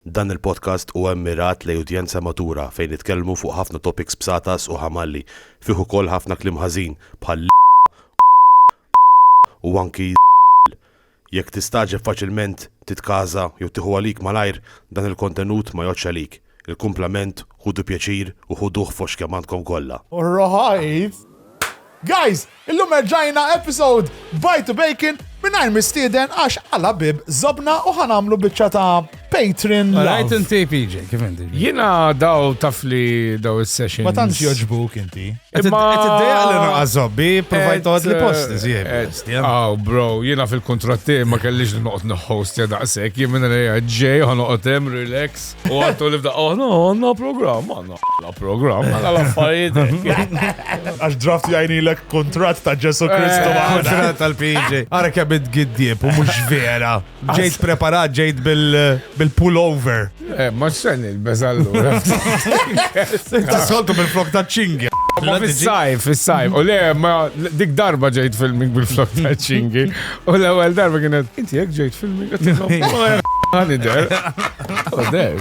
Dan il-podcast huwa mmirat lejn udjenza matura fejn nitkellmu fuq ħafna topics bsatas u ħamalli, fih ukoll ħafna kliem ħażin bħal l, u anki żball. Jekk tistagħġeb faċilment, titkaża jew tieħu għalik malajr, dan il-kontenut ma jgħoddx għalik. Il-kumplament ħudu pjaċir u ħuduh fost kemm għandkom kollha. Alright! Guys! Illum erġajna episode Bye to Bacon mingħajr mistieden għax għala bib żobna u ħa nagħmlu biċċa ta' Patreon All right, love. inti PJ, kif inti? Jina daw taf li daw il-session. Ma tantx joġbuk inti. Qed Imma- qed iddejjaq li naqas żobbi, provajt toqgħod li post iżjed. Aw, Oh, bro, jina fil-kontratti ma kellix li noqgħod nħost ja daqshekk, jien minn għalija ġej ħa noqgħod hemm relax u għattu li f'daqqa aħna għandna programm għandna. La program, għala l-affarijiet. Għax draft jajnilek kontrat ta' Ġesu Kristu. Eh, kontrat tal-PJ. Għara kebit giddieb u mux vera. Ġejt preparat, ġejt bil-pullover. Eh, ma xen il-bezallu. Ta' soltu bil-flok ta' ċingi. Ma fil-sajf, fil-sajf. U le, ma dik darba ġejt filming bil-flok ta' ċingi. U l-ewel darba kienet, inti jek ġejt filming. Għani der. U der.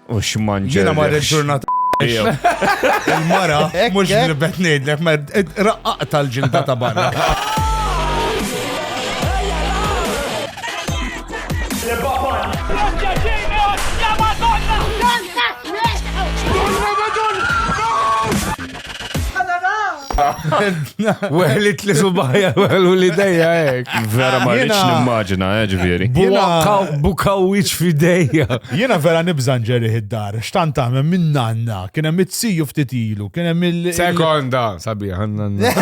U x'manġer. Jiena mar il-ġurnata Il-mara, mux nibet nejdlek, ma raqqaq tal-ġilda ta' barra. Weħlit li subajja, weħlu li dejja ek. Vera ma rridx nimmaġina, eh, ġifieri. Bukaw wiċ fidejja. Jiena vera nibżan ġeri id-dar, xtant tagħmel minn nanna, kien hemm it-siju ftit ilu, kien hemm il. Sekonda, sabiħ, għandna.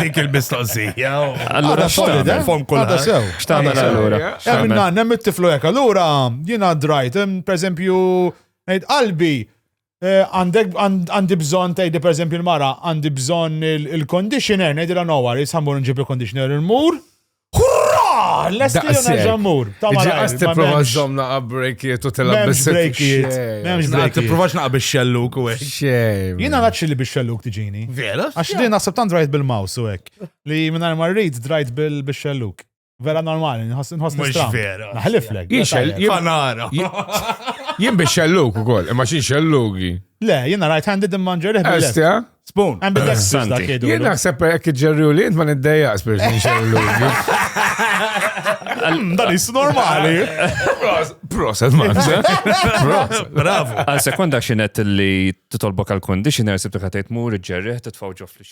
Dik il-mistoqsija. Allura x'tagħmel fom kulħadd. X'tagħmel allura? Hemm nanna, hemm it-tiflu hekk. Allura jiena drajt, pereżempju, ngħid qalbi Għandek, għandi bżonn tgħidli pereżempju l-mara, għandi bżonn il-conditioner, ngħidilha no worries, ħammur nġib il-conditioner il-mur. Hurra! Lesti u nerġa' mmur. Ta' Ġi għas tipprova żomm naqab brejkiet u tilgħab bis brejkiet. M'hemmx brejkiet. Tipprovax naqab ix-xelluk u hekk. Xejn. Jiena naċċi li bix-xelluk tiġini. Vera? Għax li naħseb tant drajt bil-mouse u hekk. Li mingħajr ma rrid drajt bil-xelluk. Vera normali, nħoss nħoss Mhux nistram. vera. Naħliflek. Jien xell- jien- Fanara. Jien biex xelluk ukoll, imma xi xellugi. Le, jiena right handed imma nġerih bil-left. Esti, ha? Spoon. Għan bil-left Santi. sista kiedu. Jien naħseb hekk iġġerriju li int ma niddejjaqx biex xi xellugi. Dan is normali. Proset, man. Proset. Bravo. Għal sekonda xinet li titolbok għal conditioner sibtu ħatajt mur ġerriħ titfaw ġo fl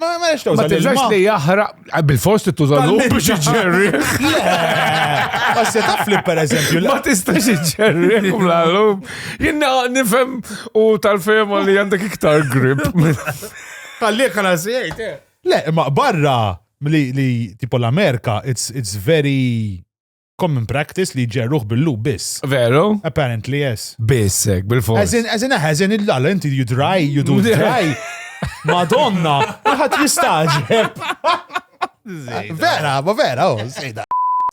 Ma ma nix Ma tiżax li jaħraq eh, bil-fost tuża l biex iġġerri. Għas se taf li per eżempju. Ma tistax iġġerri kum l-għallum. Jina nifem u tal-fema li għandek iktar grip. Kalli għala zjajt, eh. Le, ma barra li tipo l-Amerika, it's very common practice li ġerruħ bil-lub biss. Veru? Apparently, yes. Biss, ek, bil-fors. Eżin, eżin, eżin, il-lala, inti you dry, you do dry. Madonna, maħat jistaġeb. Vera, ma vera, oh, sejda.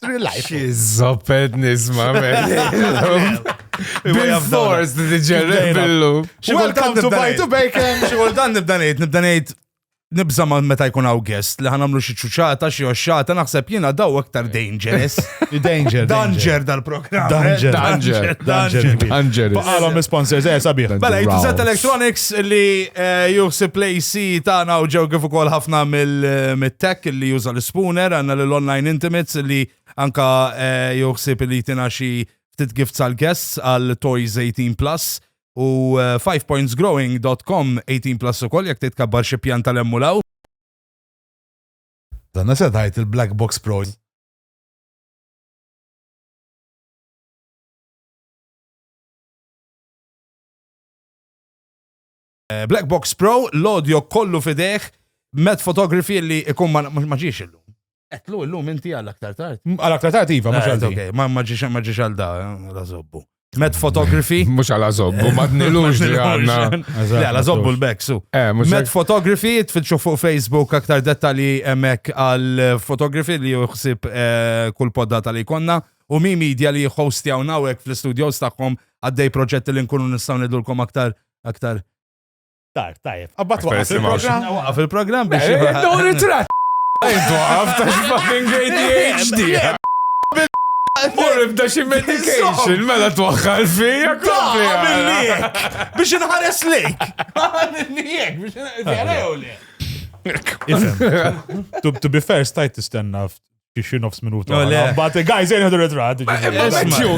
Relax. Xizzopet nisma, Bil-fors, di ġerruħ bil-lub. Welcome to Bajtu Bacon. Xogħol dan nibda ngħid, nibda ngħid nibza ma meta jkun hawn guest li ħanamlu xi ċuċata xi oxxata naħseb jiena daw aktar dangerous. Danger. Danger dal-programm. Danger. Danger. Danger. Danger. Baqalhom sponsors eh sabiħ. Mela jitżet Electronics li eh, juħsib lejsi tagħna u ġew kif ukoll ħafna mill-tech eh, li juża l-spooner għandna l-online intimates li anka eh, juħsib li tina xi ftit gifts għal guests għal Toys 18 Plus u 5pointsgrowing.com 18 plus ukoll jekk titkabbar xi pjan tal-emmulaw. Donna se tgħid il-Black Box Pros. Eh, Black Box Pro, l-audio kollu fideħ, met fotografi li ikun ma ġiex illum. Etlu illum inti għal aktar tard. Għal aktar tard iva, mhux għal dik. Ma ġiex għal da, la zobbu. Met photography. Mux għala zobbu, ma t-nilux li għanna. Għala zobbu l-beksu. Eh, Met photography, tfitxu fuq Facebook aktar dettali emek għal photography li juħsib eh, kull podda tal-li konna. U mi media li jħostjaw nawek fl-studios taħħom għaddej proġetti li nkunu nistaw nidulkom aktar aktar Tar, tajf. Abba twaqaf il-program. Waqaf il-program biex. Dawn ritrat. Twaqaf ta' fucking ADHD. Morib da xi medication, mela twaħħal fija kompli. Biex inħares lejk. Għamilniek, biex inħares lejk. To be fair, stajt tistenna xi nofs minuta. No, le. Mbagħad guys jien ħadu ritratt.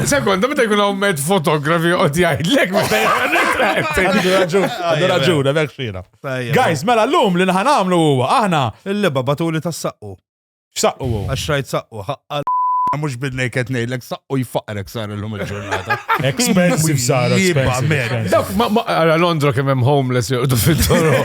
Sekonda meta jkun hawn med fotografi qod jgħidlek meta ritratt. Għandu raġun, għandu raġun, hemmhekk xina. Guys, mela llum li nħan għamlu huwa aħna. Il-liba batuli tas-saqqu. X'saqqu huwa? Għax rajt saqqu, ħaqqa mux bidnej qed ngħidlek saqqu jfaqrek sar illum il-ġurnata. Expensive sar expensive. Dak ma ara Londra kemm hemm homeless joqdu fit-toro.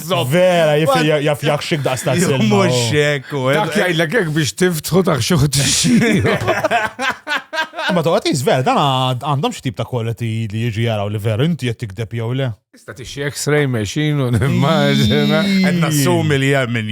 Vera, jaf jak xik daqs ta' s-silma. Mux xekku. Eh. Dak jgħidlek jek biex tiftħu ta' xuħu t-xiju. Ma toqgħod jiżver, dan għandhom xi tip ta' quality li jiġi jaraw li veru inti qed tikdeb jew le. Sta tixi X-ray machine u nimmaġina. Qed nassumi li hemm min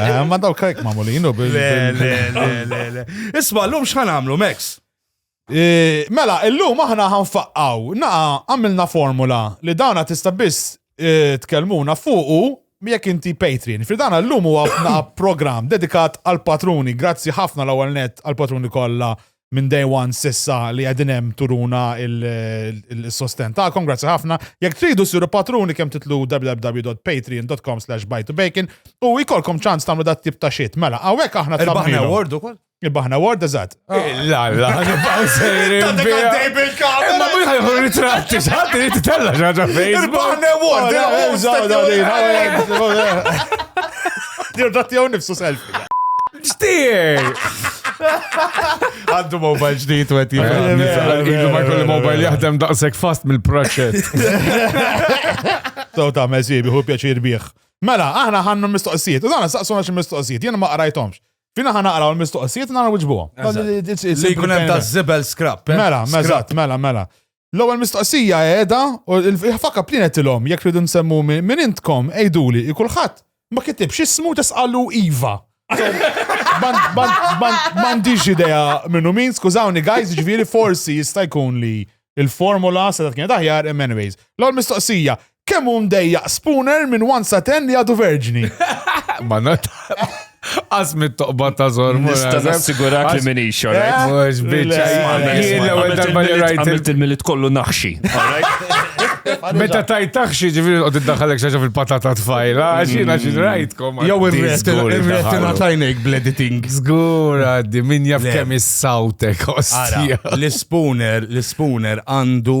Eh, ma daw kajk ma molinu bil. Isma, l-lum xħan għamlu, Max? Eh, mela, l-lum aħna ħanfaqqaw, naqa għamilna formula li dawna tista biss eh, tkellmuna fuqu jekk inti Patreon. Fridana l-lum huwa program dedikat għal patruni, grazzi ħafna l-ewwel net għal patruni kollha minn day one sissa li għedin hemm turuna il-sosten ta'kom, grazzi ħafna. Jekk tridu siru patruni kemm titlu www.patreon.com slash buy to bacon u jkollkom ċans tagħmlu dat tip ta' xit. Mela, hawnhekk aħna Il-Bahna Award ukoll? Il-Bahna Award, eżatt. La, la, nibqaw sejrin. Tadek għaddej bil-kamera. Ma minn ħajħu ritratti, xħat li titella xaġa fejn. Il-Bahna Award, il-Bahna Award. Dir dat jew nifsu selfie. Xtier! Għandu mobile ġdijt u għet Idu ma kolli mobile jahdem daqsek fast mill-proċet. So ta' mezi biħu pjaċir bieħ. Mela, aħna ħannu mistoqsijiet, u dan saqsuna xi mistoqsijiet, jena ma qrajtomx. Fina ħana qraw l-mistoqsijiet nara wiġbuhom. Li jkun hemm ta' zibel scrap. Eh? Mela, mela, mela, mela. L-ewwel mistoqsija qiegħda u l-faka plienet ilhom jekk ridu nsemmu minn intkom għiduli i kulħadd ma kitibx ismu tesqalu iva. M'għandix idea minnu min, skużawni guys, ġifieri forsi jista' jkun li il-formula se kienet aħjar imma anyways. L-ewwel mistoqsija, Kemm hu mdejjaq Spooner minn 1 sa 10 li għadu verġni? Ma not. Għas mit-toqba ta' zor. Nista nassigurak li minn ixo, eh? right? Mux bieċa. Jien l-ewel darba li rajt. Għamilt il-milit kollu naħxi. Meta tajt taħxi ġifiri u tiddaħalek xaġa fil-patata tfajla, xina xin mm. rajtkom. Jow imretina tajnek bl-editing. Zgur għaddi, min jaf kemm is-sawtek, ostja. L-spooner, l-spooner għandu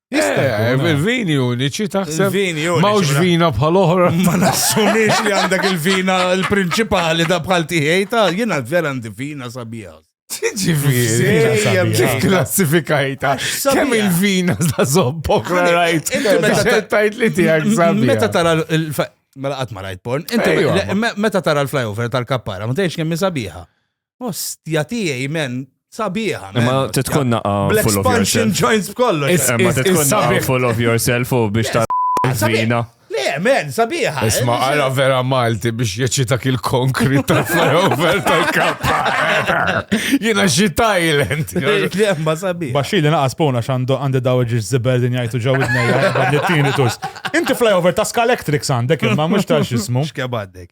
Jista' eh, il-vini uniċi taħseb. Il-vini uniċi. Mawx vina bħal oħra. Ma nassumix li għandek il-vina l-prinċipali da bħal tiħej ta' jena vera għandi vina sabiħa. Ġifieri, klassifikajta. Kemm il-vina sa' zobbok rajt. Tajt li tiegħek sabiħa. Meta tara l-fa. Mela qatt ma rajt porn. Meta tara l-flyover tal-kappara, ma tgħidx kemm sabiħa. Ostja tiegħi men, sabiħa. Imma titkun naqa' full of yourself. joints b'kollu. Imma titkun naqa' full of yourself u biex ta' vina. Le, men, sabiħa. Isma' għara vera Malti biex jeċita kil konkrit ta' flyover tal-kappa. Jina xi Thailand. Lemma sabiħa. Baxi li naqas pona xandu għandi daw ġiġ ziber din jajtu ġaw id-nejja. Inti flyover ta' Skalektrix għandek imma mux ta' xismu. Xkebadek.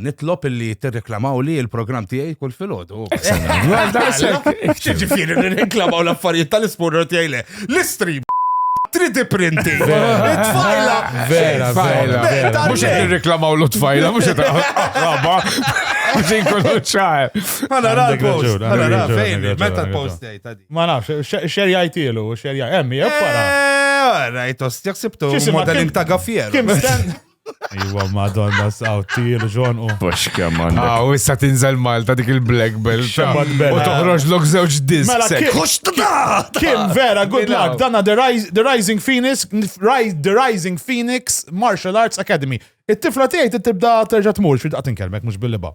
Nitlob illi tirreklamaw li il-programm tiegħi kull filgħodu. Ġifieri nirreklamaw l-affarijiet tal-ispurra tiegħi le. L-istream 3D printing. Tfajla. Vera, vera. Mhux qed nirreklamaw l-tfajla, mhux qed raba. Għazin kollu ċar. Għana ra l-post. Għana ra fejn, meta l-post jgħajta di. Ma nafx, xer jgħajtilu, xer jgħajtilu. Emmi, jgħu para. Rajt, ostjaksibtu, modeling ta' gaffier. Iwa, madonna, saw, tir, ġon u. Bux kemm għandek. Aw, issa tinżel Malta dik il-black belt. Xabad belt. U toħroġ lok zewġ disk. Mela, kien. Kim, vera, good luck. Dana The Rising Phoenix, The Rising Phoenix Martial Arts Academy. It-tifla tiegħi tibda terġa' tmur xi daqtin kelmek mhux bil-liba.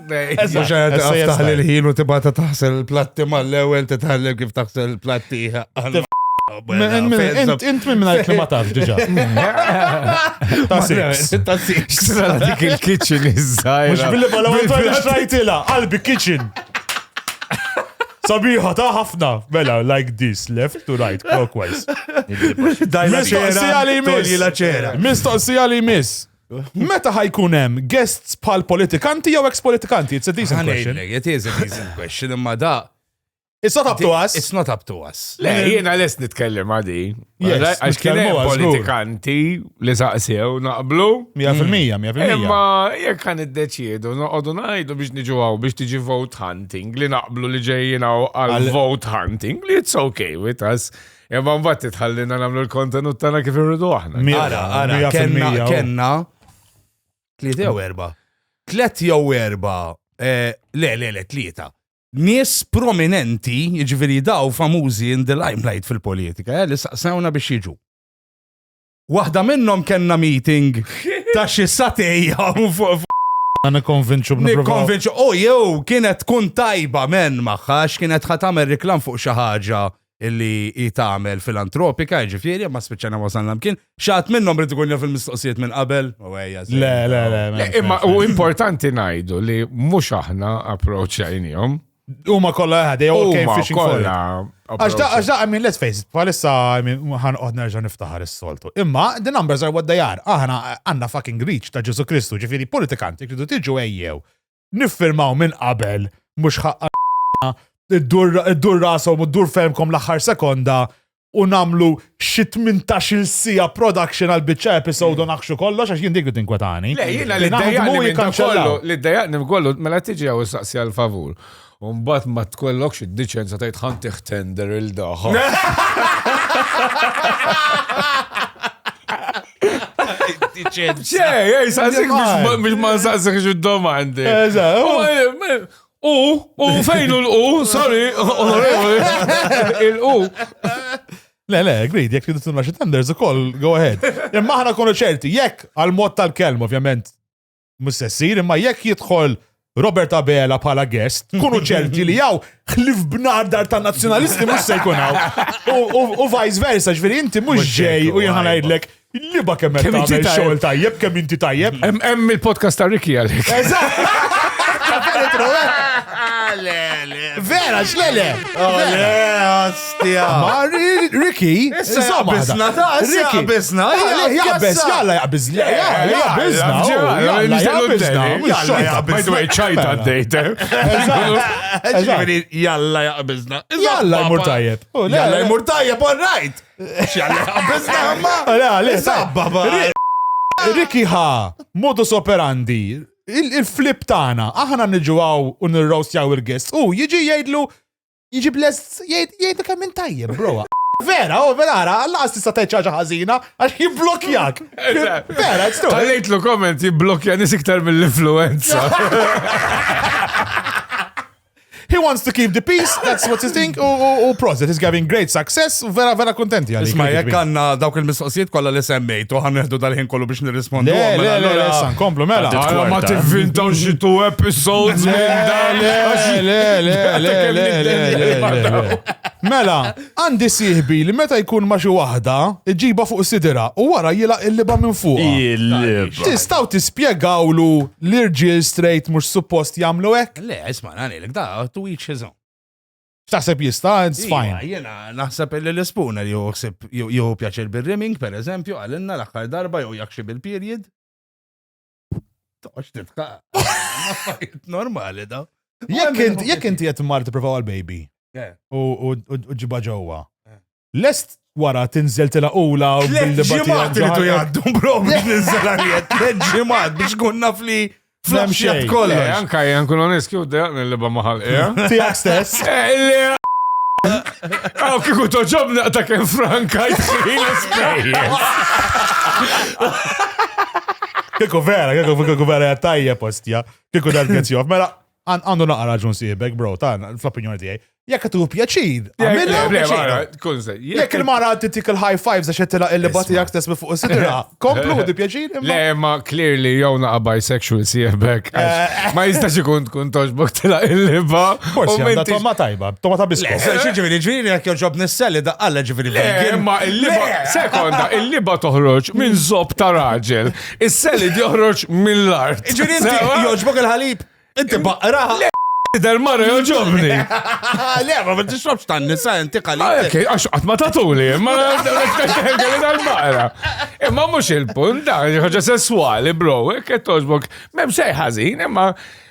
Taħli l-ħin u tibata taħsel il-platti mal-ewel titħallem kif taħsel il-platti. Int minn minna li ma taf diġa. Ta' six. Ta' six. Dik il-kitchen iż-żajra. Mux billi bala għandu xrajtila, qalbi kitchen. Sabiħa ta' ħafna. Mela, like this, left to right, clockwise. Mistoqsija li miss. Mistoqsija li miss. Meta ħajkun hemm guests bħal politikanti jew ex-politikanti? It's a decent question. It is a decent question, imma da. It's not up to us. It's not up to us. Le, jiena les nitkellem għadi. Għax kien hemm politikanti li saqsew naqblu. 100%, 100%. Imma jekk kan iddeċiedu noqogħdu ngħidu biex niġu għaw biex tiġi vote hunting li naqblu li ġejjin għal vote hunting li it's okay with us. Imma mbagħad titħallina nagħmlu l-kontenut tagħna kif irridu aħna. Mira, mira, kenna, kenna, tlieta jew erba. Tlet jew erba, eh, le, le, le, tlieta. Nies prominenti, jiġifieri daw famużi in the limelight fil-politika, eh, li saqsawna biex jiġu. Waħda minnhom kellna meeting ta' xi satej Għana konvinċu Konvinċu, u jew kienet tkun tajba men maħħa, x'kienet ħat tagħmel reklam fuq xi ħaġa illi hi tagħmel filantropika, ġifieri, ma spiċċana wasalna mkien. Xaħat minnhom rid ikun fil-mistoqsijiet minn qabel. Le, le, le. Imma u importanti ngħidu li mhux aħna approċċajnihom. Huma kollha eħad, they all came fishing for it. Għax da, għax da, I mean, let's face it, palissa, I mean, ħan qod nerġa' niftaħar is-soltu. Imma, the numbers are what they are. Aħna għandna fucking reach ta' Ġesu Kristu, ġifieri politikanti kridu tiġu ejjew. Niffirmaw minn qabel, mhux ħaqqa id-dur rasom u d-dur femkom l-aħħar sekonda u namlu xi 18-il sija production għal biċċa episode u naħxu kollox għax jien dik li tinkwetani. Le, jiena li dejjaqni minn dan kollu, li dejjaqni minn kollu, mela tiġi għaw saqsi għal favur. Umbat ma tkollokx id-diċenza tajt ħanti tender il-daħħa. Ċe, ej, saqsik biex ma nsaqsik xu domandi. Eżaw. U, u fejn u l-u, sorry, il-u. Le, le, agreed, jek tridu tunna xi tenders ukoll, go ahead. Imma aħna konu ċerti, jekk għal-mod tal-kelm, ovvjament, mhux se ssir, imma jekk jidħol Robert Abela bħala guest, kunu ċerti li jaw ħlif bnardar ta' nazjonalisti mux se jkun hawn. U- U u vice versa, ġveri inti mux Mhux ġej ġej, u jien u ħanajdlek Il-liba kemm qed tagħmel xogħol tajjeb, kemm inti tajjeb. Hemm il-podcast ta' Ricky għalik. Vera, xlele! Ma Ricky, insomma. Bizna ta' Ricky. Bizna, jaqbez, jalla jaqbez. Jaqbezna, jalla jaqbezna. Jalla jaqbezna. ċajta d-dejta. Jalla jaqbezna. Jalla jmur tajjeb. Jalla jmur tajjeb, all right. Riki ħa, modus operandi, il-flip tagħna, aħna niġu għaw u nirrostjaw il-guest u jiġi jgħidlu jiġi bless jgħidu kemm minn tajjeb, bro. Vera, u vera, għalla tista' tgħid ċaġa ħażina għax jibblokjak. Vera, it's true. Għallejtlu komment jibblokja nis iktar mill-influenza. He wants to keep the peace, that's what he think, u proset, he's having great success, u vera vera kontenti għalli. Isma, jek għanna dawk il-mistoqsijiet kolla li semmejt, u għanneħdu dal-ħin kollu biex nirrispondu. Le, le, le, san, komplu, mela. Għara ma t-vintaw ġitu episodes minn dan. Le, le, le, le, le, le. Mela, għandi siħbi li meta jkun ma xi waħda, iġiba fuq sidira u wara jila il-liba minn fuq. Il-liba. Tistaw tispjegawlu l-irġiel straight mux suppost jamlu ek? Le, isma' ngħidlek da to each his own. X'taħseb jista' it's Iva, fine. Jiena naħseb li l-ispuna li joħsib jew pjaċir bir-rimming, per eżempju, għalinna l-aħħar darba jew jakxi bil-period. Toqgħodx titqa. Affarijiet normali da. Jekk int- jekk inti qed mar tipprova għal baby Eh. u u- u- u ġibha ġewwa. Eh. Lest wara tinżeltilha ula u Tliet billi ġimgħat batija iridu ġaħar. jgħaddu bro biex ninżel għaljet. Tliet ġimgħat biex kun naf li Flam flamxjat xejn. Eh, kollox. anka jgħan kun onest, kif dejqan il-liba maħal, eh? Tiegħek stess. Għaw kiku toġob naqta kem franka jisri l-spejjes. Kieku vera, kieku kieku vera hija tajjeb ostja. Kieku dan gets joff. Mela, Għandu naqra raġun sieħbek, bro, ta' fl-opinjoni tiegħi. Jekk qed tieħu pjaċir, għamilha pjaċira. Jekk il-mara titik il-high fives għax qed tilaq il-liba tiegħek stess minn fuq is-sidra, komplu di pjaċir. Le, ma clearly jew naqa' bisexual sieħbek. Eh. Ma jistax ikun tkun toġbok tilaq il-liba. Forsi għandha tomma tajba, tomma ta' biskot. Xi ġifieri ġifieri jekk joġob nisselli daqqalla ġifieri. Le, ma il-liba, sekonda, il-liba toħroġ minn zob ta' raġel. Is-selid joħroġ mill-art. Ġiri inti joġbok il-ħalib. Inti baqra. Del mara joġobni. Le, ma ma tixrobx tan nisa inti qalli. Ah, ok, għax qatt ma tatuli, ma kelli dal-mara. Imma mhux il-punt, dan ħaġa sesswali, bro, hekk qed toġbok. M'hemm xejn ħażin, imma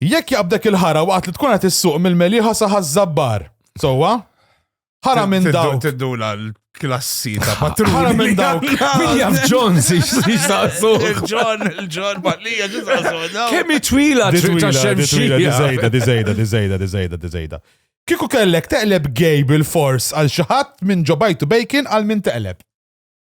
Jekk jaqbdek il-ħara waqt li tkun qed issuq mill-Meliħa sa Ħaż-Żabbar. Sewwa? Ħara minn Tiddu- dawk. Tiddula l-klassi ta' Ħara patruni. minn dawk. Min jaf John si xtaqsu. Il-ġon, il-ġon, baqlija ġizaqsu. Kemm hi twila Di twila, ta' di twila, di xemxija. zejda, di zejda, di zejda, di zejda, di zejda. Kiku kellek teqleb gay bil-fors għal xi ħadd minn ġobajtu bacon għal min teqleb.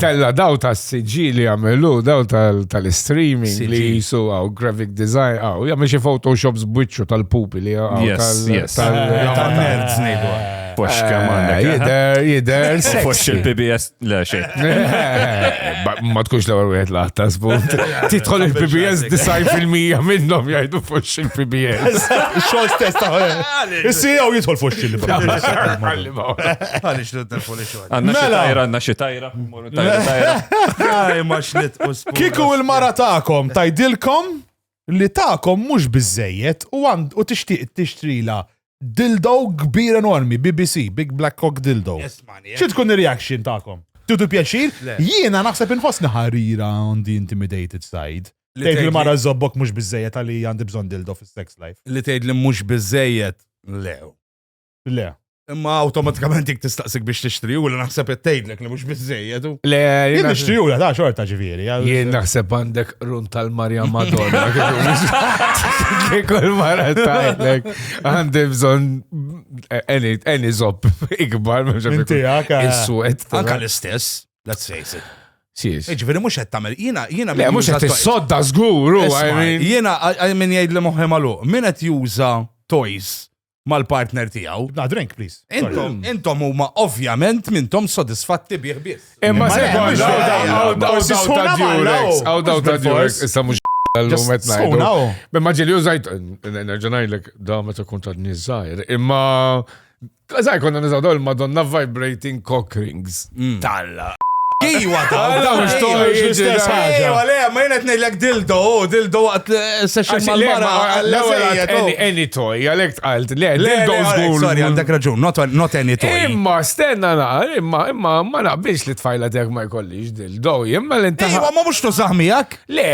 Tella daw ta' s-sġi li għamilu, daw tal-streaming li jisu għaw graphic design għaw, jgħamil xie photoshops bwicċu tal-pupi li għaw. Yes, yes. Tal-nerds nejdu. Pox kaman. Eh, jider, jider. Pox il-PBS, le xie. Ma tkunx l-għar wieħed laħta zbut. Titħol il-PBS design fil-mija minnom jgħidu pox il-PBS. Xol stess taħħel. Issi għaw jitħol pox il-PBS. Għalix l-telfoni xo. Għanna xi tajra, għanna xi tajra. Kiku il-mara ta'kom tajdilkom li ta'kom mhux biżejjed u għand u tixtieq tixtrila dildo kbir enormi, BBC, Big Black Cock Dildo. Xi tkun ir-reaction ta'kom? Tutu pjaċir? Jiena naħseb inħossni ħarira on the intimidated side. Li tgħid li mara żobbok mhux biżejjed għalli għandi bżonn dildo fis-sex life. Li tgħid li mhux biżejjed lew. Le. Imma automatikament jek tistaqsik biex tixtri u l naħseb it-tejdlek li mux bizzejed. Le, jien nixtri u l ta' xorta ġiviri. Jien naħseb għandek run tal-Marja Madonna. Kikol mara tajlek. Għandi bżon any zop ikbar. Mintijak. Il-suet. Anka l-istess, let's face it. Ġveri mux għed tamel, jina, jina. Le, mux għed sodda zguru. Jina, minn jgħid li moħi malu, minn għed juża toys mal-partner tiegħu. Na drink, please. Intom, intom huma ovvjament mintom sodisfatti bih biss. Imma se għaw daw ta' Durex, issa mhux l-lum qed ngħidu. Imma ġieli użajt, nerġa' ngħidlek da meta kun ta' niżgħir, imma Zaħi konna nizaw dawl madonna vibrating cock rings. Talla. Iwa, talla, mux toħroġ l-istess ħaġa. Iwa, le, ma jena t-nejlek dildo, oh, dildo għat session mal-mara. L-ewel any toy, għalek tqalt, le, dildo zgur. Sorry, għandek raġun, not any toy. Imma, stenna na, imma, imma, ma naqbilx li tfajla dek ma jkollix dildo, imma l-intaħ. Iwa, ma mux tużaħmijak? Le,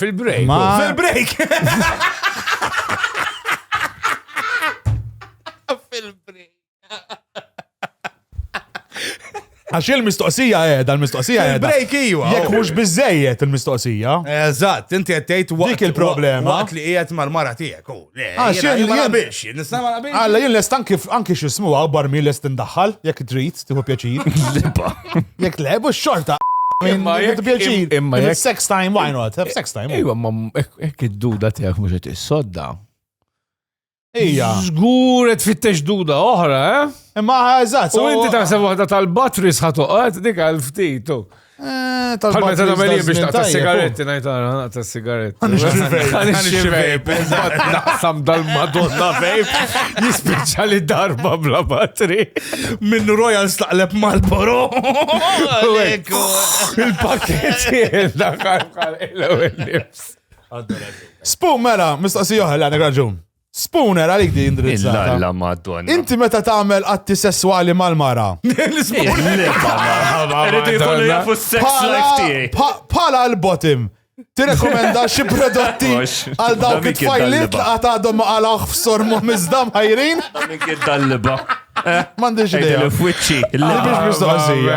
fil-break. Fil-break. Għax il-mistoqsija eh, dal-mistoqsija eh. Break iwa. Jek mux oh. bizzejiet il-mistoqsija. Eżatt, inti għettejt waqt. Dik il-problema. Waqt li qiegħed mal-mara tiegħek. Oh, Għax jien ma nabiex, nista' ma nabiex. Alla jien lest anki anki xismu għabbar mi lest indaħħal, jekk trid, tieħu pjaċir. Lipa. Jekk lebu xorta. Imma jek pjaċir. Imma jek. Sex time, why not? Sex time. Iwa, ma jek id-duda tiegħek mhux qed issodda. Ija. Zgur et fittex duda oħra, eh? Imma eżatt. U inti taħseb waħda tal-batteries ħatoqgħod dik għal ftit. Eh, tal-batteries. Tal meli biex taqta sigaretti najtara, naqta sigaretti. Għanix xivejb, naqsam dal-madonna vejb, jispiċa li darba bla batteri. Minn Royal staqleb mal-boro. Il-pakketti, il-daħħal, il-nifs. Spoon mela, mistoqsi oħra li għandek raġun. Spooner għalik di indirizzata. Illa madonna. Inti meta tagħmel atti sessuali mal-mara. Pala l-bottom. Tirekomenda xi prodotti għal dawk it-tfajliet li għad għadhom ma għalawh f'sormu miżdam ħajrin? Minn kien dal-liba. M'għandix idea. F'wiċċi. Biex mistoqsija.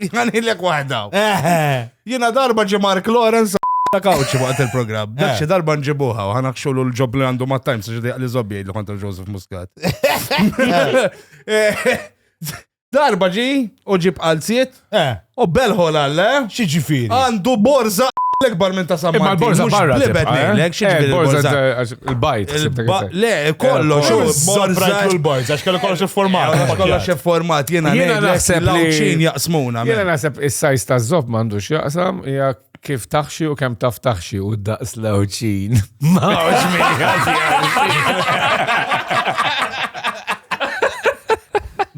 Għanilek waħda. Jena darba ġi Mark Lawrence ta' kawċi waqt il-program. Dak xi darba nġibuha u ħana xogħol l-ġob li għandu ma' Times xi li żobbi jgħidlu kontra Joseph Muscat. Darba ġi u ġib qalziet u belħol għalle. Xi ġifieri? Għandu borza l-ekbar minn ta' samma. Ma l-borza barra. Libed nejlek, xi ġifieri borza. Il-bajt, le, kollox, il-bajt, il-bajt, għax kellu kollox il-format. Kollox il-format, jena naħseb li ċin jaqsmuna. Jena naħseb il-sajz ta' zob mandux jaqsam, jgħak kif taħxi u kem taf taħxi u daqs lawċin. Ma uġ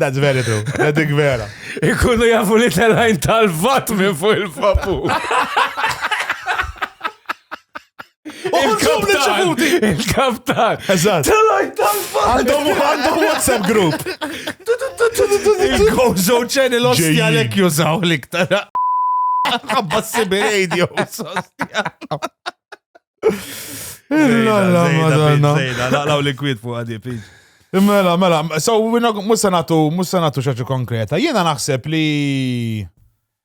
That's very true. That's dik vera. Ikunu jafu li tal-ħajn tal-vat minn fuq il-fapu. Il-kaptan! Il-kaptan! Eżatt! Għandhom għandhom WhatsApp group! Il-Gozo Channel ostja lek jużaw l-iktar. Għabba s-sibi radio, sostja. Illa, madonna. Laqlaw li kwit fuq għadi, piġ. Mela, mela, so, musanatu, musanatu xaġu konkreta. Jena naħseb li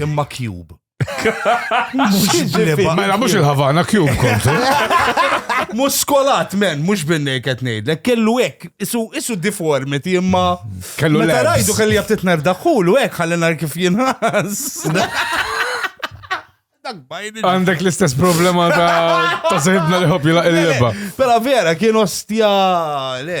Imma cube. Mela mhux il-Havana cube kont. Mhux skolat men, mhux binnej qed ngħidlek, kellu hekk, isu isu deformity imma kellu meta rajdu kelli jaf titner daħħulu hekk ħalli nar kif jinħas. Għandek l-istess problema ta' ta' sejbna li ħob jilaq il-leba. Pera vera, kien ostja, le,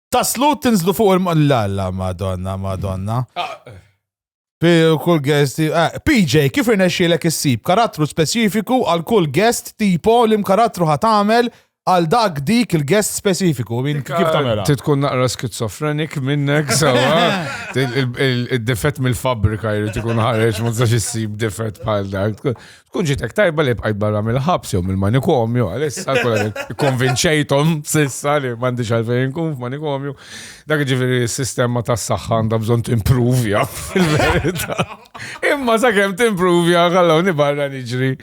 Taslu tinżlu fuq il-mallalla, madonna, madonna. Ah. Kull guest, eh, PJ, kif irnexxielek issib karattru speċifiku għal kull guest tipo li mkarattru ħatamel għal dak dik il-guest speċifiku. Min kif tagħmel? Titkun naqra skizofrenik minnek sawa. Il-difett mill-fabrika jrid ikun ħareġ ma tistax issib difett bħal dak. Tkun ġitek tajba li bqajt barra mill-ħabs jew mill-manikomju, għalissa konvinċejtom sissa li m'għandix għalfejn kun f'manikomju. Dak ġifieri s-sistema tas-saħħa għandha bżonn timprovja fil-verità. Imma sakemm timprovja ħallewni barra niġri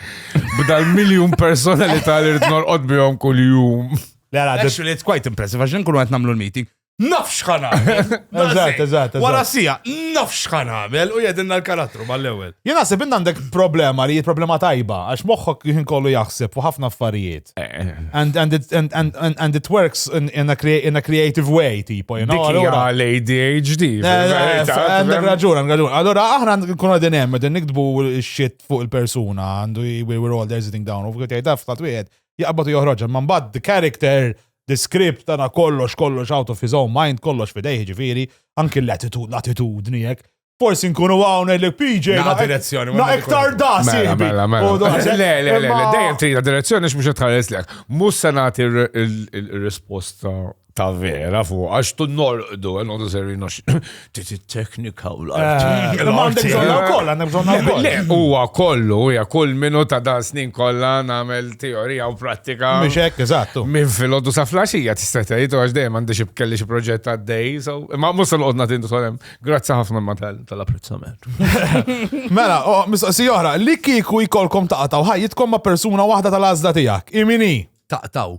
b'dal miljun personalità li rid norqod bihom kuljum. Actually, it's quite impressive, għax nkunu qed nagħmlu l-meeting. nafx xħan għamel. Eżat, eżat, eżat. Wara sija, nafx xħan għamel u jedinna l-karattru mal-ewel. Jena se binna għandek problema li problema tajba, għax moħħok jħin kollu jaħseb u ħafna affarijiet. Eh. And, and, it, and, and, and, and it works in, in, a, crea in a creative way, tipo, you know? Dikija l-ADHD. Għandek raġun, għandek raġun. Allora, aħna nkun għadin hemm, għadin nikdbu shit fuq il-persuna, għandu we were all there sitting down, u f'għet jgħidaf, f'tat wieħed, jaqbatu joħroġ, man bad the character The script tana kollox, kollox out of his own mind, kollox fidejh ġifiri, anki l-attitudni, l-attitudni jek. Forsi nkunu għawna li PJ. Na direzzjoni. Na iktar da, mela, mela, mela. Le, le, le, le, dejjem trina direzzjoni x'mhux qed tħares lek. Mhux se nagħti r-risposta ta' vera fuq għax tu norqdu, għandu serri Bdiet it-teknika u l-arti. Eh, ma għandek bżonna wkoll, għandek bżonna wkoll. Le, huwa kollu, hija kull minu ta' dan snin kollha nagħmel teorija u prattika. Mhux hekk, eżattu. Minn filgħodu sa flaxija tista' tgħid u għax dejjem għandi xi kelli xi proġett għaddej, so ma mhux se noqgħod nagħti solem. Grazzi ħafna ma tal-apprezzament. Mela, mistoqsi oħra, li kieku jkollkom taqtaw ħajjitkom ma' persuna waħda tal-għażla tiegħek. Imini? Taqtaw.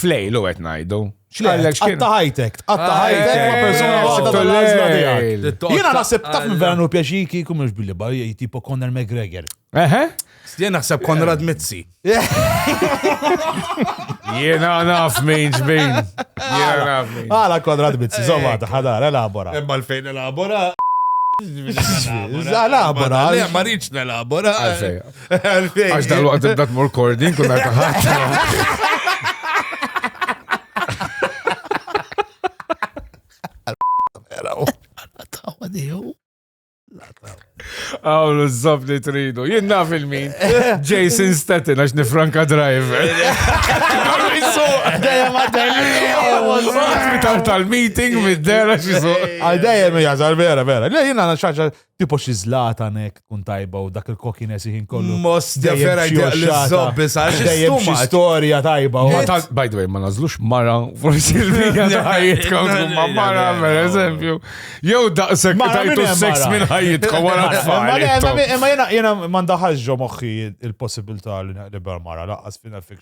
Flej, l għet najdu. Xlek, għatta ħajtek, għatta ah, ħajtek ma persona għadda tal-azma tijak. Jena naħseb taf minn veranu pjaċiki kum mux billi bar, tipo Conor McGregor. Eħe? Jena naħseb Conrad Mizzi. Jena naf minn ġbin. Jena naf minn. Għala Conrad Mizzi, zomma, ħadar, elabora. Ebba l-fejn elabora. Elabora. Ma rridx nelabora. Għax dal-waqt ibda tmur kordin kun għal taħat. Għawlu z-zob li tridu. Jien naf il-min. Jason Staten għax nifranka driver. Dajem għadda. tal-meeting mid-dera xisuq. Għal dajem jgħazar vera vera. Le jien għana xaċa Tipo xi zlatan hekk tkun tajba u dak il-kokines ħin kollu. Mos vera jdeq li zobbi sa xi xi storja tajba. By the way, ma nażlux mara forsi l-bija ta' ħajjitkom ma mara per eżempju. Jew daqshekk tajtu seks minn ħajjitkom wara tfal. Imma jiena ma ndaħalx ġo moħħi il-possibilità li naqlibha mara laqqas fina fik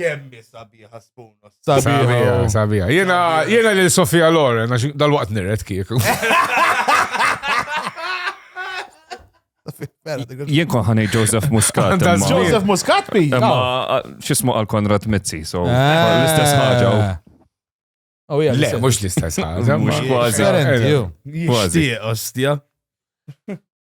Kemmi sabiħa spunos. Sabiħa, sabiħa. Jena, jena li Sofia Loren, għax dal-waqt nirret kieku. Jien kon ħanej Joseph Muscat. Joseph Muscat bi? Ma xismu għal Konrad Mizzi, so ah. l-istess ħagġa. Oh, Le, mux l-istess ħagġa. Mux kważi. Kważi, ostja.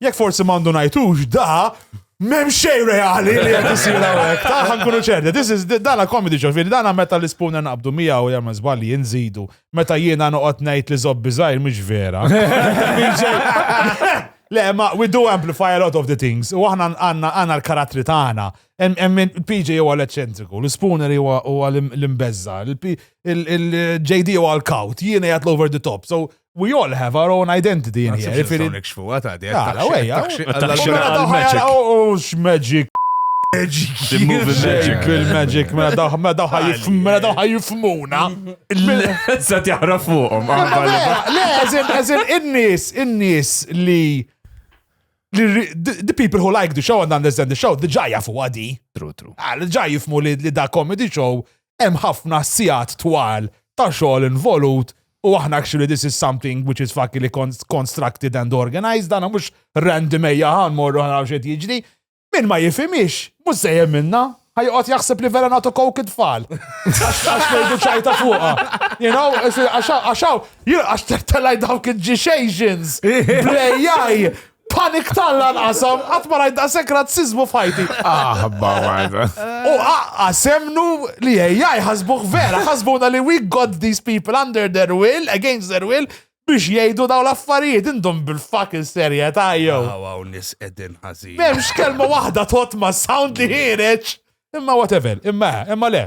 Jekk forsi mandu najtux, da, mem xej reali li jgħet jisir għawek. Taħħa nkunu ċerti. This is, dana comedy show, fil dana meta li spuna naqbdu mija u jamma zballi jinżidu. Meta jiena noqot najt li zobbi zaħir, mux vera. Le, ma, we do amplify a lot of the things. U aħna għanna għanna l-karattri tagħna. PJ huwa l-eċċentriku, l-Spooner huwa l-imbezza, il-JD huwa l-kaut, jiena jgħat l-over the top. So, We all have our own identity in here. Ġifiri. Nikxfuha ta' di. Għala, wejja. X'magic. The movie magic. Il-magic, mela daħ, mela daħ jifm, mela daħ jifmuna. Sa tiħra fuqhom. Le, eżin, eżin, in-nies, in-nies li the people who like the show and understand the show, the ġajja fuq għadi. True, true. Għal ah, ġaj jifmu li da comedy show hemm ħafna sigħat twal ta' xogħol involut u aħna actually this is something which is fuckily constructed and organized, dana mhux random ejja ħan morru ħan xed jiġri. Min ma jifimix, mhux se minna, ħajqot jaħseb li vera nagħtu kowk id-tfal. Għax ngħidu ċajta fuqha. You know, għaxaw, għax telaj dawk il-ġixejxins, brejjaj, Panik talla nqasam, qatt ma rajt daqshekk razzizmu f'ħajti. Aħba marda. U aqqa semnu li ejja jħasbuh vera, ħasbuna li we got these people under their will, against their will, biex jgħidu daw l-affarijiet indom bil-fucking serjetà jew. Għaw nis edin ħażin. M'hemmx kelma waħda tot ma sound li ħireġ. Imma whatever, imma imma le.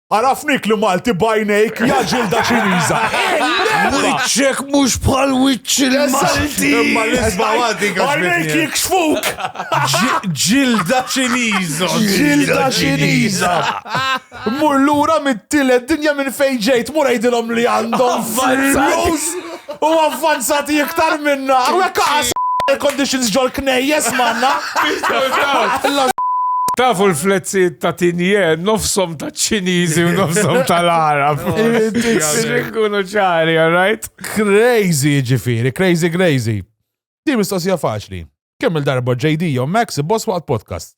Arafnik li Malti bajnejk jaġilda ċiniża. Wiċċek mhux bħal wiċċ il-Malti. Imma l-isba għaddi Bajnejk jikxfuk. Ġilda ċiniża. Ġilda ċiniża. Mur lura mit-tielet dinja minn fejn ġejt, mur għidilhom li għandhom flus. U avvanzati iktar minna. Għek għas air conditions ġol knejjes manna. Tafu l-flezzi ta' tinje, nofsom ta' ċinizi u nofsom ta' l-Arab. Xinkunu ċari, all right? Crazy ġifiri, crazy crazy. Di mistoqsija faċli. Kemm il-darba JD jew Max boss waqt podcast?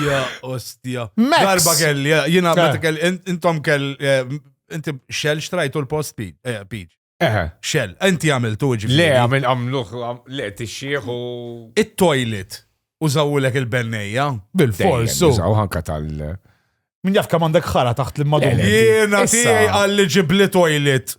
Ja, ostja. Darba kelli, jina eh. meta kelli, intom kelli, eh, inti xell xtrajtu l-post peach. Eh, xell, inti għamiltu ġifiri. Le, għamil għamluħ, le, t-xieħu. Il-toilet, użawulek il-bennejja. Bil-fors. Użaw ħanka tal- Min jaf kam għandek ħara taħt l-madum. Jena, tijaj għalli ġibli toilet.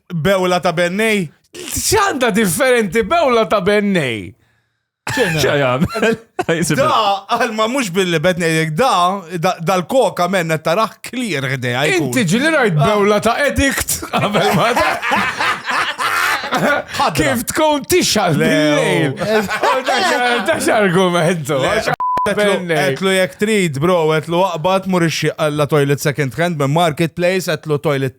Bewla ta' bennej? ċanda differenti bewla ta' bennej. ċajam. Da, għalma mux billi betnejek, da, dal-koka menna taraħ clear għdeja. Inti ġili rajt ah. bewla ta' edikt. Kif tkun tixal lejl. Dax argumentu. Għetlu jek trid, bro, għetlu għaqbat murixi għalla toilet second hand, marketplace, għetlu toilet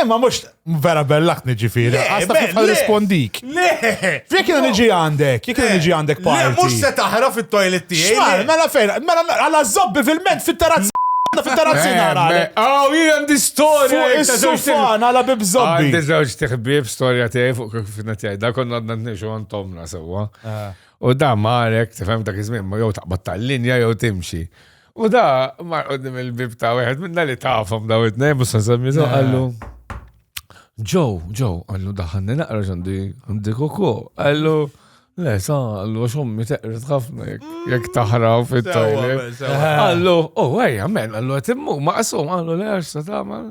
Imma mux vera bellak niġifiri. Għasta kif għal rispondik. Le! Fjek jena niġi għandek, jek jena niġi għandek pa. Le, mux se taħra fit-toilet tijaj. Xmar, mela fejn, mela għala zobbi fil-ment fit-tarazzi. Fit-tarazzi nara. Aw, jien għandi storja. Is-sufan għala bib zobbi. Għandi zewġ tiħbib storja tijaj fuq kif fina tijaj. Da konna għadna t-nixu għantomna sewa. U da marek, tifem dak iż-żmien, ma jow taqbad tal-linja jow timxi. U da, mar qoddim il-bib ta' wieħed minna li tafhom daw it-tnejn mhux se nsemmitu eh. qallu. Ġew, ġew, qallu daħanni naqra ġandi għandi koko. Qallu, le, sa, qallu għax ommi teqret ħafna jekk taħraw fit-tajli. Qallu, oh, ejja, men, qallu qed immur maqsum, qallu le għax se tagħmel,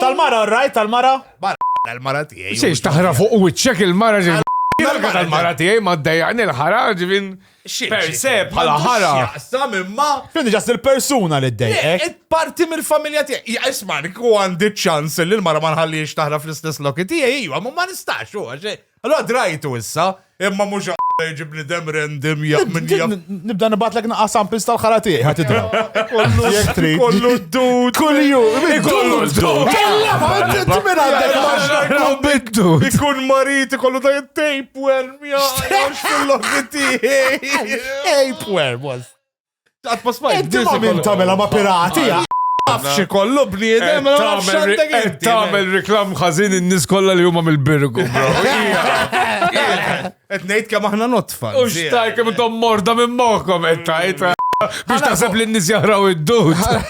Tal-mara, rajt tal-mara? Tal-mara tiegħi. Xiex taħra fuq wiċċek il-mara ġil. Tal-mara tiegħi ma ddejjaqni l-ħara ġivin. Per se bħala ħara. Sam imma. Fin ġas il-persuna li ddejjaq. Parti mill-familja tiegħi. Isma' għandi ċans li l-mara ma nħallix taħra fl-istess loki tiegħi, ma nistax u għax Allura drajtu issa, imma mhux għara jġib bnidem random jaf minn jaf. Nibda nibatlek naqqa samples tal-ħara tiegħi ħadd idra. Jekk trid. Kollu d-dud. Kulju, kollu d-dud. Kella ma inti minn għandek maġna biddu. Ikun marit ikollu da tapeworm, jgħax fil-lofi tiegħi. Tapeworm was. Inti ma minn tamela ma pirati, Nafxi kollu bniedem, ma nafx għandek. Qed tagħmel reklam ħażin in-nies kollha li huma mill-birgu, bro. Qed ngħid kemm aħna notfa. U x'taj kemm intom morda minn moħħkom qed tajt. Biex taħseb li n-nies jaħraw id-dud.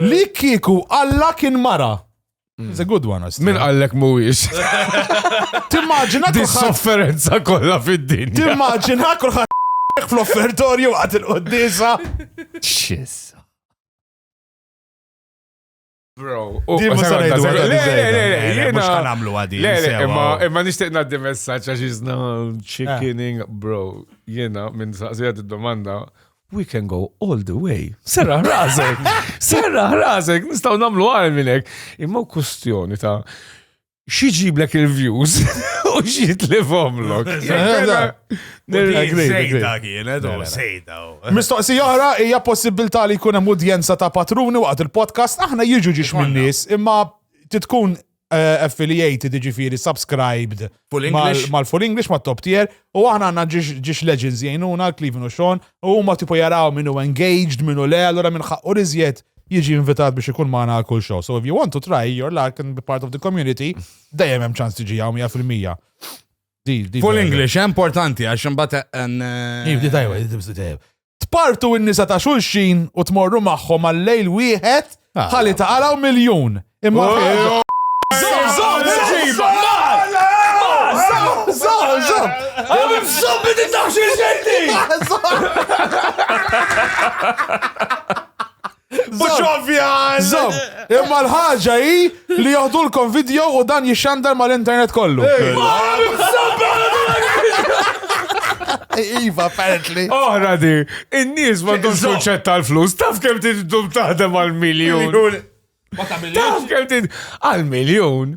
Li kieku Alla kien mara. Mm. It's a good one, Min għallek muwix? Timmaġina di sofferenza kollha fid-dinja. Timmaġina kulħadd fl-offertorju għat il-qoddisa. Xissa. Bro, u ma sa ngħidu għadha. Mhux kan għamlu għadi. Imma nixtieq ngħaddi messaġġ għax iżna chickening, eh. bro. Jiena minn saqsija id-domanda we can go all the way. Serra ħrażek, serra ħrażek, nistaw namlu għal minnek. Imma kustjoni ta' xieġiblek il-views u xiet li fomlok. Sejda kienet, u sejda. Mistoqsi oħra, hija possibilità li jkun hemm udjenza ta' patruni waqt il-podcast, aħna jiġu ġiex minn nies, imma titkun eh, affiliated, ġifiri subscribed mal-full English, ma' top tier, u aħna għanna ġiex legends jgħinuna, Cleveland u Sean, u ma tipo jaraw minnu engaged, minnu le, allora minn ħaqqu rizjet jiġi invitat biex ikun maħna għal kull show. So if you want to try your luck and be part of the community, dajem hemm ċans tiġi għaw 100%. Full English, eh, importanti, għax imbagħad. Eh, Iv, di tajwa, di tajwa. Tpartu n-nisa ta' xulxin u tmorru magħhom għal lejl wieħed ah. ħalli taqalaw miljun. Imma Mux ovvja! Zom, imma l-ħagġa hi li joħdulkom video u dan jixxandar mal-internet kollu. Iva, apparently. Oħra di, in-nies ma dum suċċett tal-flus, taf kem tidum taħdem għal-miljon. Taf kem tidum għal-miljon.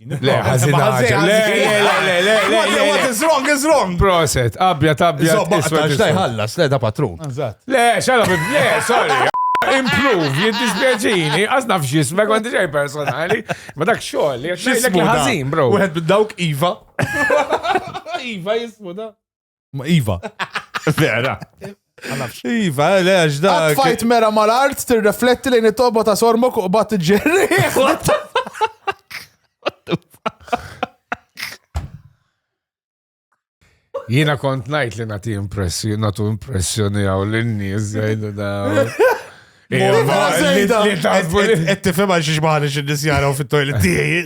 Le, ħazin ħazin. Le, le, le, le, le. What is wrong is wrong. Proset, abja tabja. Zobba, għax daj ħallas, le da patrun. Le, xala bib, le, sorry. Improve, jiddispjaċini, għazna fxis, ma konti ġej personali, ma dak xoll, jgħaxlek ħazin, bro. Wieħed bid-dawk Iva. Iva jismu da. Iva. Vera. Iva, le, għax da. Fajt mera mal-art, tirrefletti lejn it-toba ta' sormok u bat ġerri. Jina kont najt li nati impressjoni, natu impressjoni għaw l-nies, jajdu da. Qed tifhem għal xiex ma ħalix in-nies jaraw fit-toilet tiegħi.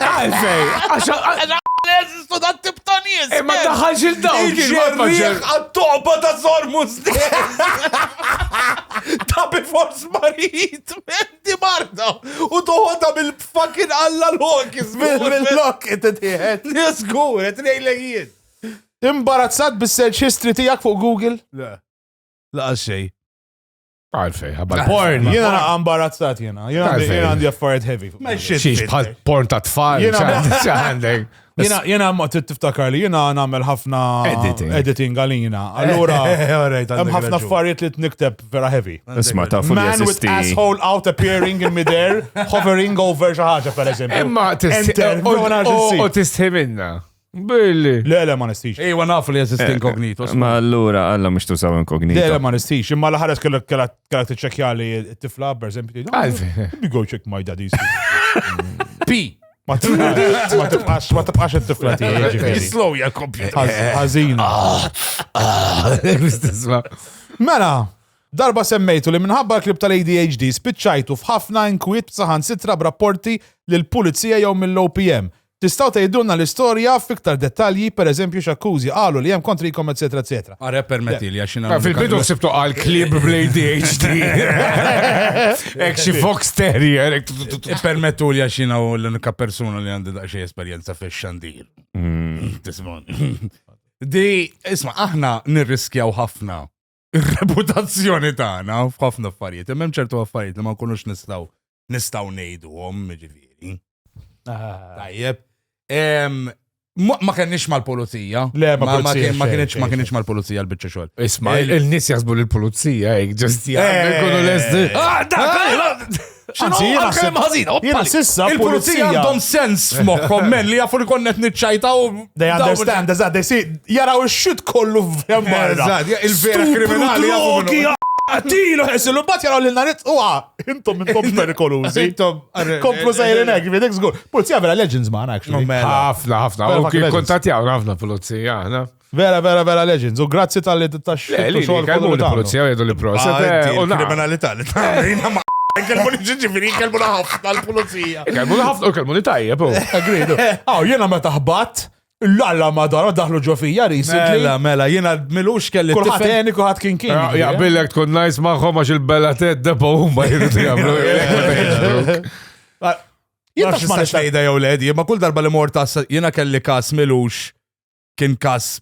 Għalfej, għax jeżistu da tip ta' nies. Imma eh, daħħalx il-dawl. Il-ġerriħ għat-toqba ta' Sormus Ta' before smarit, menti marda. U toħodha bil-fucking alla l-hokis. Bil-lok, it-tiħet. Nisgur, it-nejlegijiet. Imbarazzat bis-search history tijak fuq Google? Le. Laqas xej. Għalfej, għabba. Porn, jena naqa imbarazzat jena. Jena għandi affarijiet heavy. Xiex bħal porn ta' tfal. Għandek. Jena ma tiftakar li jena namel ħafna editing għalina. Allura, hemm ħafna affarijiet li t-nikteb vera heavy. Isma ta' fuq Man with asshole out appearing in midair, hovering over xaħġa per eżempju. Imma t-istħi minna. Billi. Le, le, ma nistix. Ejwa nafu li jeżisti eh, inkognito. Eh, ma allura, għalla mux tużaw inkognito. Le, le, ma nistix. Imma l-ħares kellek t-ċekja li t-tifla, per eżempju. Għalf. Bi go check my daddy. Pi. Ma tibqax, ma tibqax it-tifla tiegħi. Jislow ja kompjuter. Ħażin. Ah, ah. Mela, darba semmejtu li minħabba l-klib tal-ADHD spiċċajtu f'ħafna inkwiet saħan sitra b'rapporti l-pulizija jew mill-OPM Tistgħu tgħidulna l-istorja f'iktar dettalji, per eżempju x'akkużi qalu li hemm kontrikom eċċetera eċċetera. Are permettili għax jiena. Ah, Fil-bidu ħsibtu qal klieb bl-ADHD. Hekk xi fox terrier. hekk tu- tu- tu- tu- Permettu li għax jiena u l-unika persuna li għandi daqsxejn esperjenza fix-xandir. Tismon. Di, isma, aħna nirriskjaw ħafna ir-reputazzjoni tagħna f'ħafna affarijiet. Imma hemm ċertu affarijiet li ma nkunux nistgħu nistgħu ngħiduhom, ġifieri. Ah. Tajjeb. Ma kenniex mal-pulizija. Le, ma kienx ma kienx mal-pulizija l-bicċa xogħol. Isma, il-nies jasbu l-pulizija, ġust jgħidu l-esti. Ah, Anzi, jena kem ħazin, jena sissa il-pulizija għandhom sens f'moħħom men li jafu li konnet nitċajta u. They understand, eżad, they see, jaraw il-xit kollu f'jammarra. Il-vera kriminali jafu. Tilu ħesilu, bat jaraw li narit u intom intom perikolużi. Intom. Komplu sejrin ek, videk zgur. Pulizija vera legends maħna, actually. Ħafna, ħafna. Kontat jgħu, ħafna pulizija, ħafna. Vera, vera, vera legends. U grazzi tal-li t-taxxu. Le, li xogħol kelmu kollu li tagħmlu. pulizija jgħidu li proset. Ah, eh, di u na- l-kriminalità li tagħmel jiena ma kelmu li ġiġifieri kelmu la ħafna l-pulizija. Kelmu li ħafna u kelmu li tajjeb. u. Agreed. Aw, jena meta ħbat, l-alla madara daħlu ġo fija recently. Mela, mela, jiena milux kelli Kulħat t-tifel. eni, kulħat kien kien. Ja- Jaqbillek tkun najs maħħom għax il-bella ted depo huma jridu jagħmlu. Jien Jien tax ma ma nistax- nejda jew led, jien ma kull darba li mort tas jiena kelli kas milux kien każ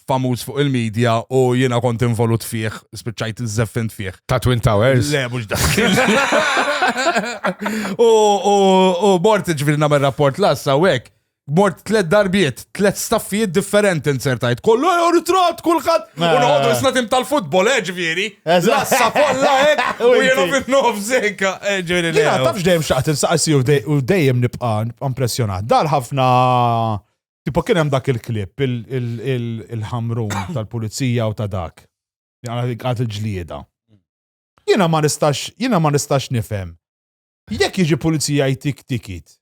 famuż fuq il-medja u jiena kont involut fih, spiċċajt żeffint fih. Ta' Twin Towers? Le, mhux dak. U mort ġifieri nagħmel rapport lassa u hekk. Mort tlet darbiet, tlet staffijiet differenti insertajt. Kollu jew ritrat kulħadd. U noqogħdu isna tim tal-futbol, eh ġifieri. Lassa kollha hekk u jiena fin-nof sekka. Eh, ġifieri. Jiena tafx dejjem xaqt insaqsi u dejjem nibqa' impressjonat. Dar ħafna Tipo kien hemm dak il-klip, il-ħamrun tal-pulizija u ta' dak. Għad il-ġlieda. Jiena ma nistax, jiena ma nistax nifhem. Jekk jiġi pulizija jtik tikit.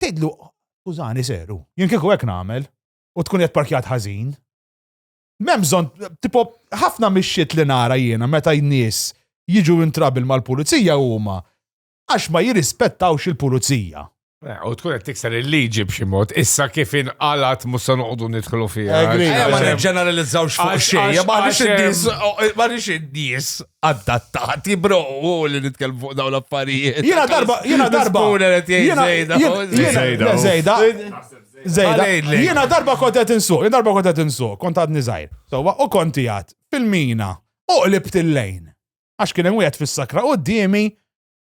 Tidlu, użani seru. Jien kieku hekk nagħmel u tkun qed parkjat ħażin. M'hemm bżonn, tipo ħafna mix-xiet li nara jiena meta jnies jiġu intrabil mal-pulizija huma għax ma jirrispettawx il-pulizija. Eh, u tkun qed tikser il-liġi b'xi mod, issa kif inqalat mhux se noqogħdu nidħlu fiha. Ma niġġeneralizzawx fuq xejn, ma nix id-nies ma nix id-nies adattati bro u li nitkellmu fuq dawn l-affarijiet. Jiena darba, jiena darba. Jiena darba. Zejda. Zejda. Jiena darba kont qed insuq, jiena darba kont qed insuq, kont għadni żgħir. Sewwa u kont fil-mina u qlibt il-lejn. għax kien hemm wieħed fis-sakra quddiemi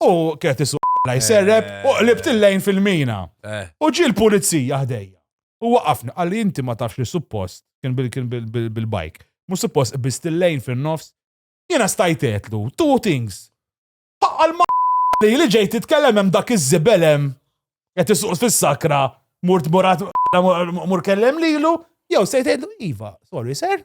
u kienet isu jserreb u qlibt il-lejn fil-mina. Eh. U ġi l-pulizija ħdejja. U waqafni, għalli inti ma tafx li suppost, kien bil-bajk, mu suppost biss il-lejn fil-nofs, jena stajtetlu, two things. Għal ma li li ġejt titkellem hemm dak iż-żibelem, qed isuq fis-sakra, murt murat mur kellem lilu, jew sejtejtlu, iva, sorry sir,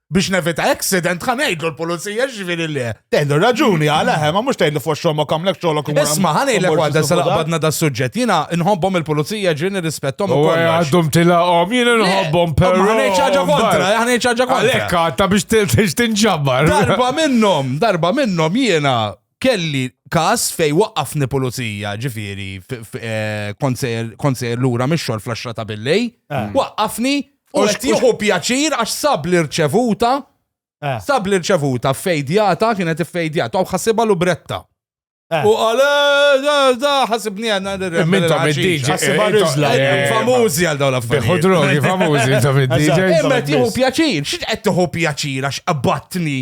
biex nevita accident ħan ngħidlu l-pulizija ġifieri le. Tgħidlu raġuni għala hemm ma mhux tgħidlu fuq xogħol ma kamlek xogħolok imur. Isma' ħan ngħidlek waħda se laqbadna da suġġett jiena nħobbhom il-pulizija ġieli nirrispettom ukoll. Għaddhom tilaqhom jiena nħobbhom però. Ma ngħidx ħaġa kontra, ħan ngħidx ħaġa kontra. Għalhekk ta' biex tinġabbar. Darba minnhom, darba minnhom jiena kelli każ fej waqqafni pulizija, ġifieri eh, kont sejr lura mix-xogħol fl ta' billej, eh. waqqafni u qed jieħu pjaċir għax sab li rċevuta eh. sab li rċevuta fejdjata kienet fejdjata u ħassibha lubretta. U għale, da, ħasibni għanna l-rem. Minn ta' mid-DJ. Ħasibha rizla. Famuzi għal dawn l-affarijiet. Biħu drogi, famuzi ta' mid-DJ. Imma tiħu pjaċir, xiex qed tiħu pjaċir għax qabbatni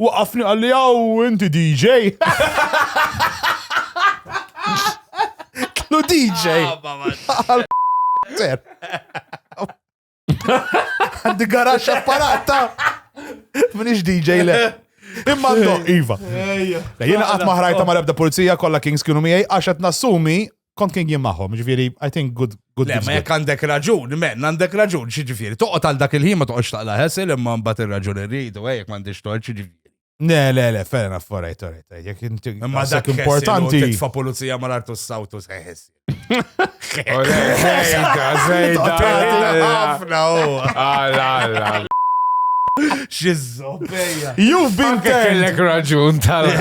Waqafni qalli għaw inti DJ. Klu DJ. Ah, Ser. Għandi garax apparat ta' minix DJ le. Imma no, Iva. Jena għat maħrajta ma' rebda pulizija kolla Kings kienu miegħi għax qed nassumi kont kien jien magħhom, ġifieri, I think good good. Le, ma jekk għandek raġun, men, għandek raġun, xi ġifieri, toqgħod għal dak il-ħin ma toqgħodx taqla ħesel imma mbagħad ir-raġun irridu, eh, jekk m'għandix tort xi ġifieri. Le, le, le, fair enough, all right, all right. Jekk inti Imma dak dak importanti. Titfa pulizija ma l-artu s-sawtu seħis. Zejda, zejda. Ħafna u. Alla, alla. Xizzobeja. You've been turned. Kellek raġun tal.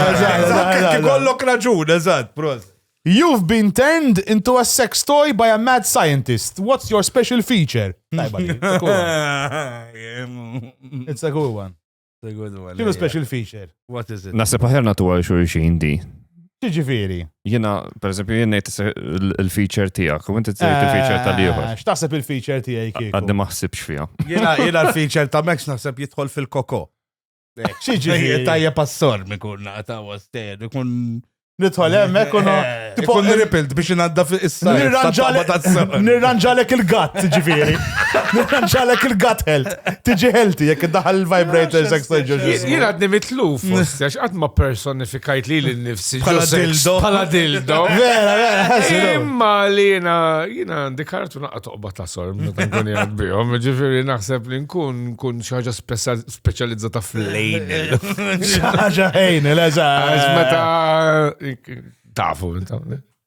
Kollok raġun, eżatt, prost. You've been turned into a sex toy by a mad scientist. What's your special feature? Tajba li, it's a good one. It's a good one. Xinu special feature? What is it? Nasa paħerna tu għal xurxin di. Ġiġifiri. Jena, per esempio, jena il-feature tijak, u inti t il-feature tal liħor eh, X'taħseb il-feature tijaj kieku? Għaddi maħsibx fija. Jena, jena il-feature ta' Max naħseb jitħol fil-koko. Xieġi tajja passor mi kun naqta għastel, kun nidħol hemmhekk u tipo niripilt biex inadda fis-sa. Nirranġalek il-gatt, ġifieri. Nirranġalek il-gatt health. Tiġi healthy jekk iddaħal il-vibrators hekk se ġoġi. Jien għadni mitlu fost għax qatt ma personifikajt li l-nifsi bħala dildo. Bħala dildo. Vera, vera, Imma li jiena jiena għandi kartu naqgħod toqba ta' sor meta nkun jgħad bihom, ġifieri naħseb li nkun nkun xi ħaġa speċjalizzata fl-lejn. Xaġa ħejn, l-eża. Meta tafu.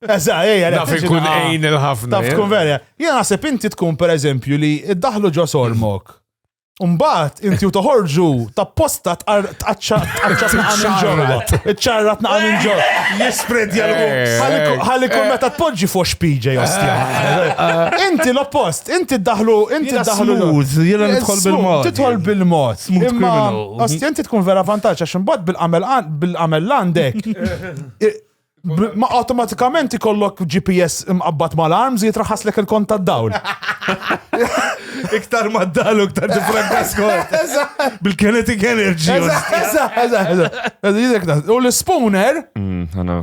Eża, ejja, naf ikun ejn il-ħafna. Taf tkun verja. Jena naħseb inti tkun per eżempju li id-daħlu ġo sormok. Umbat, inti u toħorġu ta' posta tqaċċat naqa minn ġorra. Iċċarrat naqa minn ġorra. Jispred jgħal Ħalli kun meta tpoġġi fuq xpiġa jostja. Inti l-oppost. Inti ddaħħlu, inti ddaħħlu. Smooth, jiena nidħol bil-mod. Tidħol bil-mod. Smooth criminal. Osti, inti tkun vera vantaġġ għax imbagħad bil-għamel għandek. Ma automatikament ikollok GPS imqabbat mal-arms jitraħas lek il-kont tad-dawl. Iktar mad-dalu, iktar differenti skont. Bil-kinetic energy. U l-spooner. Mm,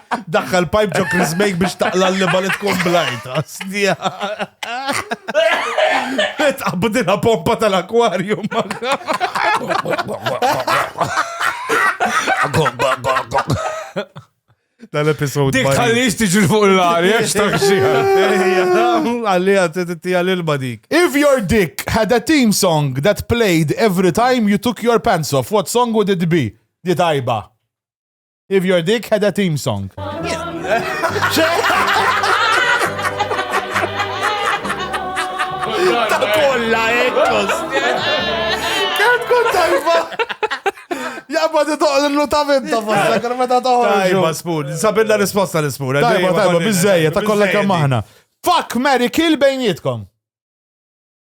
Daħħal pipe ġo Chris Make biex taqla l-liba li tkun blajta. Stija. Tqabbdilha pompa tal-akwarium. Dal-episod. Dik ħallix tiġi fuq l-għar, jek xtaħxi. Għalli għattetti għal-ilba dik. If your dick had a theme song that played every time you took your pants off, what song would it be? Di tajba. If your dick had a theme song. Ta' kolla, ekkos. Kem tkun tajba? Jabba ti toqgħod illu ta' vinta fosta, kien meta toħorġu. Tajba, spun. Sabilla risposta l-spun. Tajba, tajba, bizzejja, ta' kollha kemm aħna. Fuck, Mary, kill bejnietkom.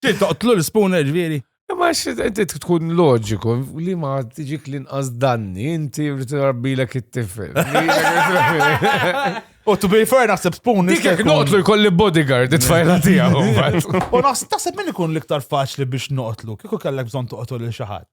Toqtlu l-spooner ġviri. Ma xinti tkun loġiku li ma tiġik l-inqas danni, inti rabbilek it-tifel. U to be fair naħseb spoon. Dik jek noqtlu jkolli bodyguard it-tfajla tiegħu. U naħseb min ikun l-iktar faċli biex noqtlu, kieku kellek bżonn toqtlu lil xi ħadd.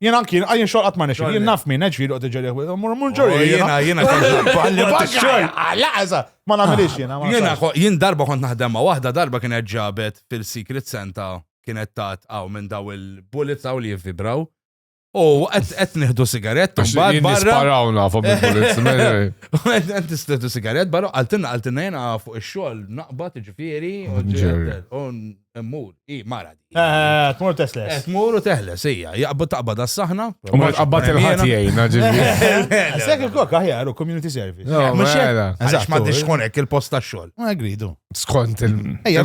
Jien anki, jien xogħol qatt ma nexxi, jien naf min qed ġieli qed iġerih bil mur mur ġorri. Oh, jiena jiena kolli xogħol. Laqsa, ma nagħmilix jiena. Jiena jien darba kont naħdem ma' waħda darba kienet ġabet fil-Secret Santa kienet tat għaw minn daw il-bullets għaw li jivvibraw. U qed nieħdu sigarett u mbagħad barra. Sparawna fuq il-bullets. Qed tistieħdu sigarett barra għaltinna għaltinna jiena fuq ix-xogħol naqbad ġifieri u Immur, i mara di. Eh, tmur tesles. Eh, tmur u teħles, ija. Jaqbad taqbad għas-saħna. U ma tqabbad il-ħati jgħina ġivri. Sekk il-kok aħjar u community service. No, ma xera. Eżax ma tix konek il-post ta' xol. Ma gridu. Skont il- Ejja,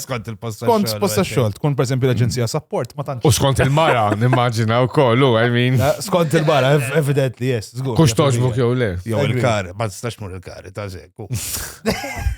Skont il-post ta' xol. Skont post ta' xol, tkun per esempio l-Aġenzija Support, ma tantx. U skont il-mara, nimmaġina u kollu, I mean. Eh, skont il-mara, evidently, yes. Kux toġbu kjow le. Jow il-kar, ma tistax mur il-kar, ta' zekku.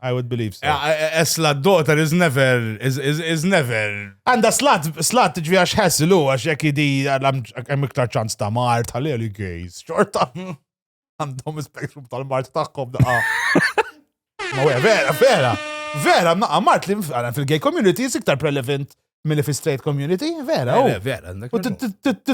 I would believe so. Eslat daughter is never, is, is, is never. Għanda slat, slat ġvi għax ħessilu, għax jek idi għalam iktar ċans ta' mart, għalli għalli gejz, xorta. Għandhom spektrum tal-mart taħkom da. Ma vera, vera. Vera, ma mart li fil-gay community is iktar prelevant Milli fi straight community, vera. Eh, vera.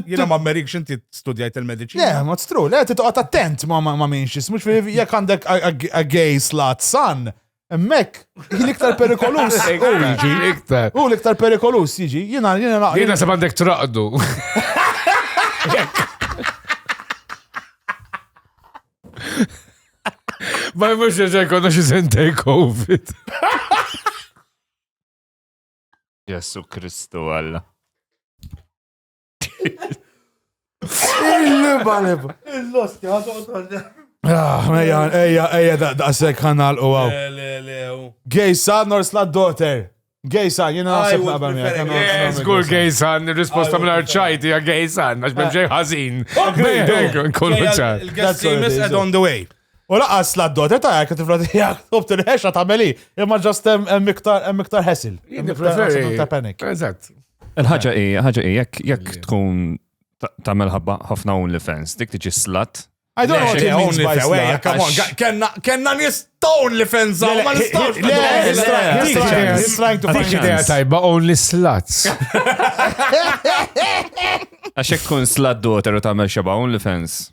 Jina ma merik xinti studjajt il-medicina. Le, ma t-stru, le, t-toqat attent ma ma minxis, mux fi jek għandek a gay slat san, emmek, l-iktar perikolus. U jiġi, iktar. U l-iktar perikolus jiġi, jina, jina naqra. Jina sab għandek traqdu. Ma jmux ġeġa jkonna xizin take COVID. Ġesu Kristu Alla. Il-liba liba. Il-losti għadu Ah, eja, eja, eja, daqsek ħanal u għaw. Gay son or slut daughter? Gay son, jina għasib naqba mija. Zgur gay son, risposta minn arċajti għag gay son, għax bħemġej ħazin. Kollu ċar. Il-gessimis ed on the way. U laqas la d-dota ta' jek tifla tijak, tobt il-ħexa ta' meli, imma ġast hemm iktar ħesil. Eżatt. Il-ħagġa i, ħagġa i, jekk tkun ta' melħabba ħafna un li fans, dik tiġi slat. I don't know what he means by slat. Come on, kenna nis town li fans għaw, ma nistawx. Le, he's trying to find idea tajba, only slats. Għaxek tkun slat doter u ta' melxabba, only fans.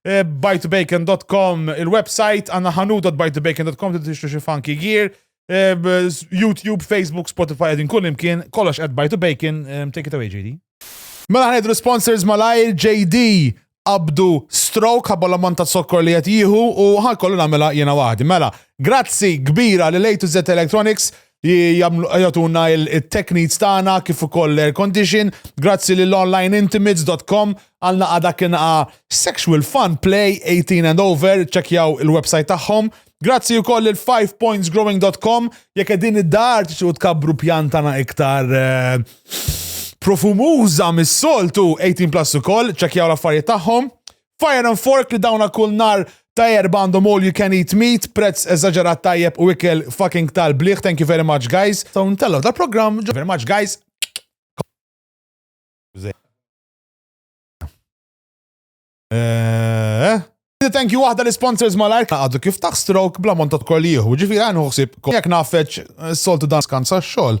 Eh, bytebacon.com il-website, għanna ħanu.bytebacon.com li tixtru xi funky gear. Eh, YouTube, Facebook, Spotify, għedin kull imkien, kollox at by to bacon, eh, take it away JD. Mela ħanedru sponsors malajr JD abdu stroke ħabba l-ammont ta' sokkor li qed jieħu u ħalkollu nagħmilha jiena waħdi. Mela, grazzi kbira li lejtu Z Electronics jagħtuna il-tech needs tagħna kif ukoll l-air condition. Grazzi lil onlineintimates.com għal naqa dak inqa Sexual Fun Play 18 and over, ċekjaw il-website tagħhom. Grazzi wkoll lil 5pointsgrowing.com jekk qegħdin id-dar tixu tkabbru pjantana iktar eh, profumuża mis-soltu 18 plus ukoll, ċekjaw l-affarijiet tagħhom. Fire and Fork li dawna kull nhar ta' Erbgħa għandhom all you can eat meat, prezz eżaġerat tajjeb u ikel fucking tal bliħ thank you very much guys. Nistgħu ntellgħu dal programm ġo. Very much guys. Eeeh. Thank you waħda l-sponsors malajr għadu kif taħ stroke bla monta tkol jieħu, ġifiri għan uħsib jek nafeċ eh, soltu dan skanza xol.